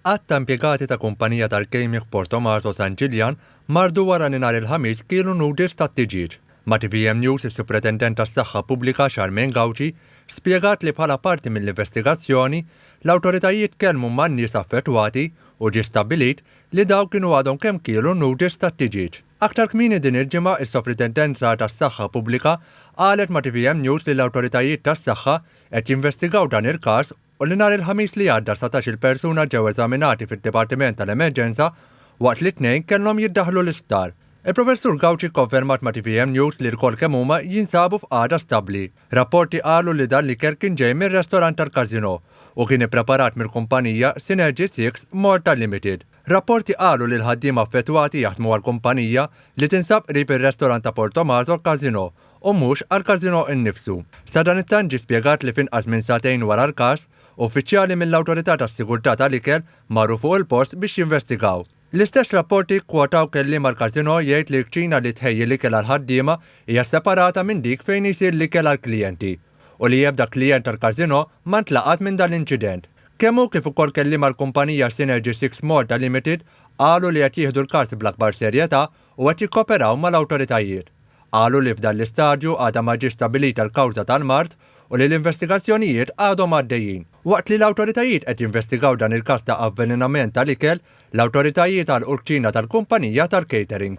Għadd ta' impjegati ta' kumpanija tal-gaming f'Porto Marzo San Ġiljan mardu wara li nhar il-Ħamis kielu noodles tat-tiġieġ. Ma' tvm News is-Supretendent tas-Saħħa Pubblika Charmaine Gauci spjegat li bħala parti mill-investigazzjoni, l-awtoritajiet tkellmu man-nies affettwati u ġie stabbilit li dawk kienu għadhom kemm kielu noodles tat-tiġieġ. Aktar kmieni din il-ġimgħa is-Sopritendenza tas-Saħħa Pubblika qalet ma' tvm News li l-awtoritajiet tas-saħħa qed jinvestigaw dan il-każ u li nhar il-Ħamis li għadda satax-il persuna ġew eżaminati fid-Dipartiment tal-Emerġenza waqt li tnejn kellhom jiddaħħlu l-isptar. Il-Professur Gauci kkonfermat ma' tvm News li lkoll kemm huma jinsabu f'qagħda stabbli. Rapporti qalu li dan l-ikel kien ġej mir-restorant tal-Casino u kien ippreparat mill-kumpanija Synergy Six Malta Limited. Rapporti qalu li l-ħaddiema affettwati jaħdmu għal kumpanija li tinsab qrib ir-restorant ta' Portomaso Casino u mhux għall-każinò innifsu. Sadanittant ġie spjegat li f'inqas minn sagħtejn wara l-każ, uffiċjali mill-Awtorità tas-Sigurtà tal-Ikel marru fuq il-post biex jinvestigaw. L-istess rapporti kkwotaw kelliem għall-każinò jgħid li l-kċina li tħejji l-ikel għall-ħaddiema hija separata minn dik fejn isir l-ikel għall-klijenti u li ebda klijent tal-każinò ma ntlaqat minn dan l-inċident. Kemm hu kif ukoll kelliem għall-kumpanija Synergy Six Malta Limited qalu li qed jieħdu l-każ bl-akbar serjetà u qed jikkooperaw mal-awtoritajiet. Qalu li f'dan l-istadju għadha ma ġietx stabbilita l-kawża tal-mard u li l-investigazzjonijiet għadhom għaddejjin. Waqt li l-awtoritajiet qed jinvestigaw dan il-każ ta' avvelenament tal-ikel, l-awtoritajiet għalqu l-kċina tal-kumpanija tal-catering.